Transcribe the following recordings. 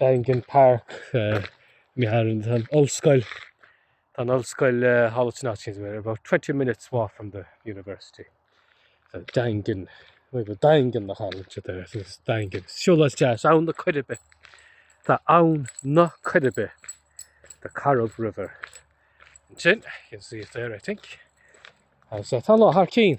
Daingean Park, mi tharrain an ollscoil, tá an ollscoil Howlett-Nottingham, we're about twenty minutes walk from the university. So Daingean, we go Daingean na Harlech there, so it's Daingean. Siúlóid deas, Abhainn na Coiribe. Tá Abhainn na Coiribe, the Corrib River. Ansin, you can see it there, I think. Agus tá an lá thar cinn.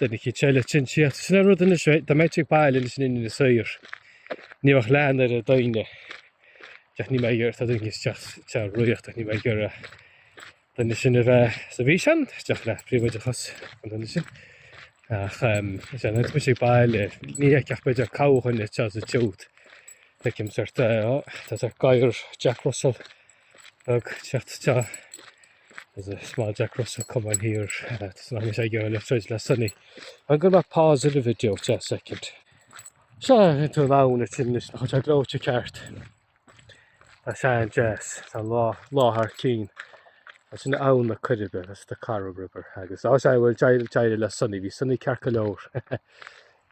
Deir na cinn eile sin, Sea, sin an rud anois, dá mbeidh tú ag goil anois in Éirinn is saor, ní bheadh lean ar an daoine, ach ní bheadh iarracht ar dhaoine isteach sa Ríocht, ach ní bheinn ag iarraidh na daoine sin a bheith sa bhfíseán isteach le príobháideachas an duine sin. Ach is ann a bheidh muid ag goil, ní fheicfeadh ach b'fhéidir corrdhuine anseo, feicim, tá gadhar Jack Russell ag teacht isteach it's a small Jack Russell, come on here, uh, does not miss idea left right last Sunday. I'm going to pause in the video for a second. Seo an tú lán a tin is chuid gleoite ceart. Tá sé an-deas, tá an lá thar cinn. Tá sin Abhainn na Coiribe, that's the Corrib River. Agus á sé bhfuil deire deire le Sunny, bhí Sunny ceart go leor.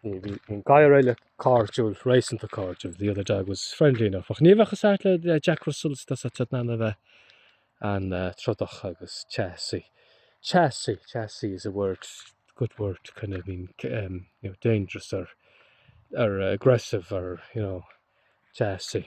Bhí an gadhar eile cairdiúil, réasúnta cairdiúil, the other dog was friendly enough, ach ní bheadh a fhios agat le Jack Russells, tá siad in ann a bheith an-trodach agus teasaí, teasaí, teasaí is a word, good word to kind of mean, em, you know, dangerous or, or aggressive or, you know, teasaí.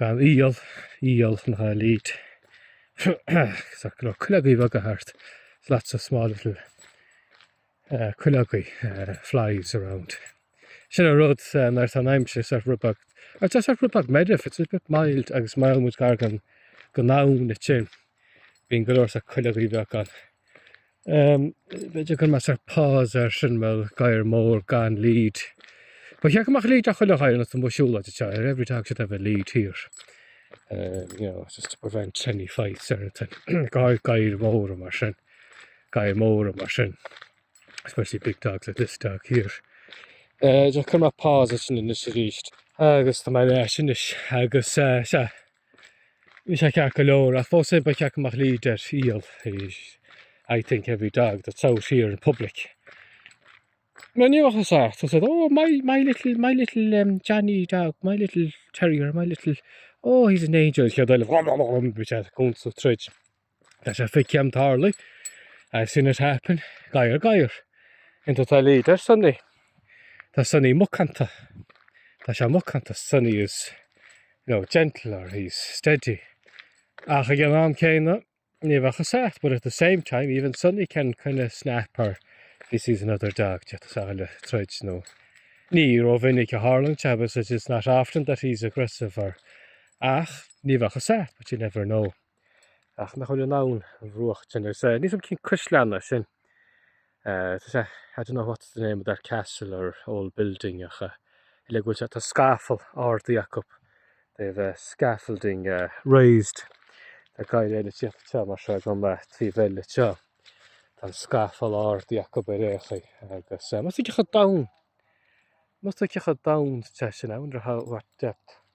gan iall, iall an dá lead. Is dócha go leor cuileogaí bheaga thart, lots of small little cuileogaí, flies around. Sin an rud nuair atá an aimsir sách ribeach, nuair atá sách ribeach meirbh, it's a bit mild agus má fhilleann muid gar don abhainn ansin, bíonn go leor cuileogaí bheaga ann. Um, b'fhéidir go gcuirfidh mise pause air sin bhuel gadhar mór gan lead. Ba cheart go mbeadh lead ar chuile ghadhar na mo siúla de teir. Every dog should have a lead here. Um, you know, just to prevent any fights or anything. gadhair, gadhair mhóra mar sin. Gadhair mhóra mar sin. Especially big dogs like this dog here. Uh, just cuirfidh mé pause air sin anois arís. Agus tá mé ar ais anois agus uh, sa Bhí sé ceart go leor, ach fós féin ba cheart go mbeadh lead ar, iall, I think every dog that's out here in public. Mar ní bheadh a fhios agat, said, oh, my, my little, my little um, Johnny dog, my little terrier, my little, oh, he's an angel, chéad rud eile, bhí sé cúnsa troid. That's a fig Jim Tarly. I've seen it happen. Gair gair. Into the leader, Sonny. Tá Sonny mucanta. Tá sé mucanta. Sonny is, you know, gentle or he's steady. Ach ag an am céanna, ní bheadh a sat, but at the same time, even Sonny can kind of snap or he sees another dog, déantas a le troid nó ní ró mhinic a tharlann sé, but it's not often that he's aggressive or ach ní bheadh a sat, but you never know. Ach nach bhfuil in ann ón mbruach sin agus eh, ní féidir linn cois leanna sin. Eh, tá sé, I don't know what's the name of that castle or old building ach eh, le go bhfuil sé, tá scafall ardaithe acu. They have eh, scaffolding eh, raised. Tá ceann eile ag tíocht treo mar seo agam eh, trí bheil le teo. Tá an scafall ardaithe acu ar aon chaoi agus eh, má's tuigthe dom, má's tuigthe dom é sin, I wonder how, what depth.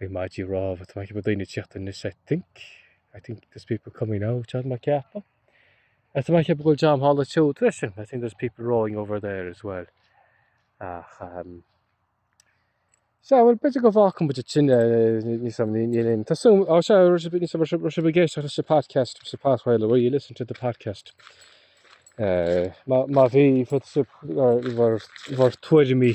Bhí maidí rámha, tá mé ag ceapadh daoine ag tíocht in I think, I think there's people coming now, tá mé ag ceapadh. Tá mé ag ceapadh go bhfuil John Hall a tiúd leis sin, I think there's people rowing over there as well. Ach, um, Sa bhfuil b'fhéidir go bhfágfaidh muid, b'fhéidir tin ní sam ní ní linn. Tá súil á se ní sam se se géis sa podcast sa pathway le you listen to the podcast. Má bhí fut bhar tuairimí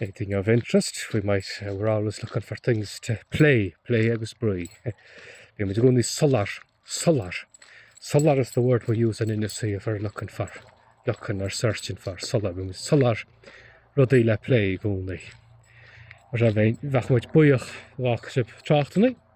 anything of interest, we might, uh, we're always looking for things to play, play agus brui. Bhí muid gúnaí solar, solar. Solar is the word we use in industry if we're looking for, looking or searching for solar. Bhí muid solar rudaí le play gúnaí. Ra bheith muid buíoch gá crib tráchtannaí,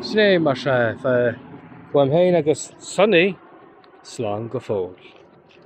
Sin é mar sin. Fág uaim féin agus Sonaí slán go fóill.